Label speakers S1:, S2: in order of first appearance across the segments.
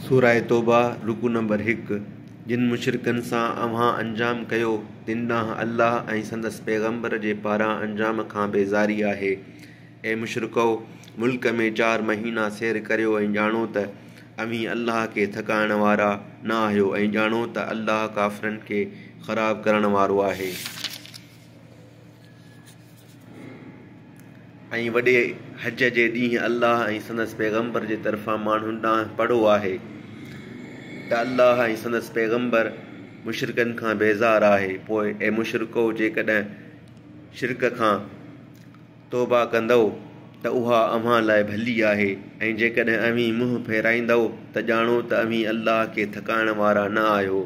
S1: سوره توبه، رڪوع نمبر هڪ، جن مشرڪن سان اوهان انجام ڪيو، تن ڏانهن الله ۽ سندس پيغمبر جي پاران انجام کان بيزاري آهي. اي مشرڪؤ! ملڪ ۾ چار مهينا سير ڪريو ۽ ڄاڻو ته اوهين الله کي ٿڪائڻ وارا نه آهيو ۽ ڄاڻو ته الله ڪافرن کي خراب ڪرڻ وارو آهي. ۽ وڏي حج جي ڏينهن الله ۽ سندس پيغمبر جي طرفان ماڻهن ڏانهن پڙهو آهي ته الله ۽ سندس پيغمبر مشرڪن کان بيزار آهي پوء اي مشرڪو جيڪڏهن شرڪ کان توبه ڪندؤ ته اها اوهان لاء ڀلي آهي ۽ جيڪڏهن اوهين منهن ڦيرائيندؤ ته ڄاڻو ته اوهين الله کي ٿڪائڻ وارا نه آهيو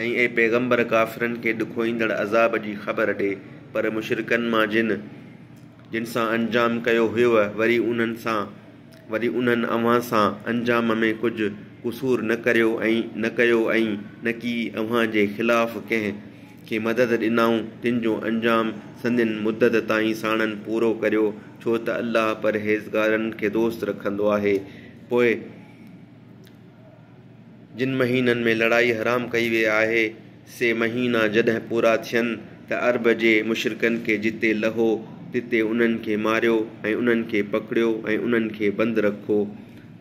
S1: ۽ اي پيغمبر ڪافرن کي ڏکوئيندڙ عذاب جي خبر ڏي، پر مشرڪن مان جن، جن سان انجام ڪيو هيوء وري انهن سان، وري انهن اوهان سان، انجام ۾ ڪجهه قصور نه ڪريو ۽ نه ڪيو ۽ نه ڪي اوهان جي خلاف ڪنهن، کي مدد ڏنائون تن جو انجام سندين مدت تائين ساڻن پورو ڪريو، ڇو ته الله پرهيزگارن کي دوست رکندو آهي، پوء. جن مهينن ۾ لڙائي حرام ڪئي ويئي آهي، سي مهينا جڏهن پورا ٿين ته عرب جي مشرڪن کي جتي لهو تتي انهن کي ماريو ۽ انهن کي پڪڙيو ۽ انهن کي بند رکو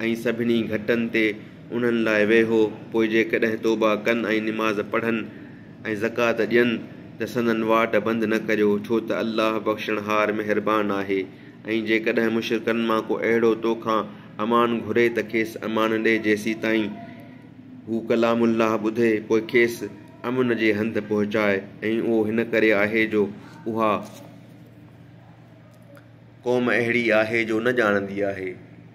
S1: ۽ سڀني گهٽن تي انهن لاء ويهو، پوء جيڪڏهن توبه ڪن ۽ نماز پڙهن ۽ زڪوات ڏين ته سندن واٽ بند نه ڪريو، ڇو ته الله بخشڻهار مهربان آهي ۽ جيڪڏهن مشرڪن مان ڪو اهڙو تو کان امان گهري ته کيس امان ڏي جيسيتائين هو ڪلام الله ٻڌي پوء کيس امن جي هنڌ پهچائي ۽ اهو هن ڪري آهي جو اها قوم اهڙي آهي جو نه ڄاڻندي آهي.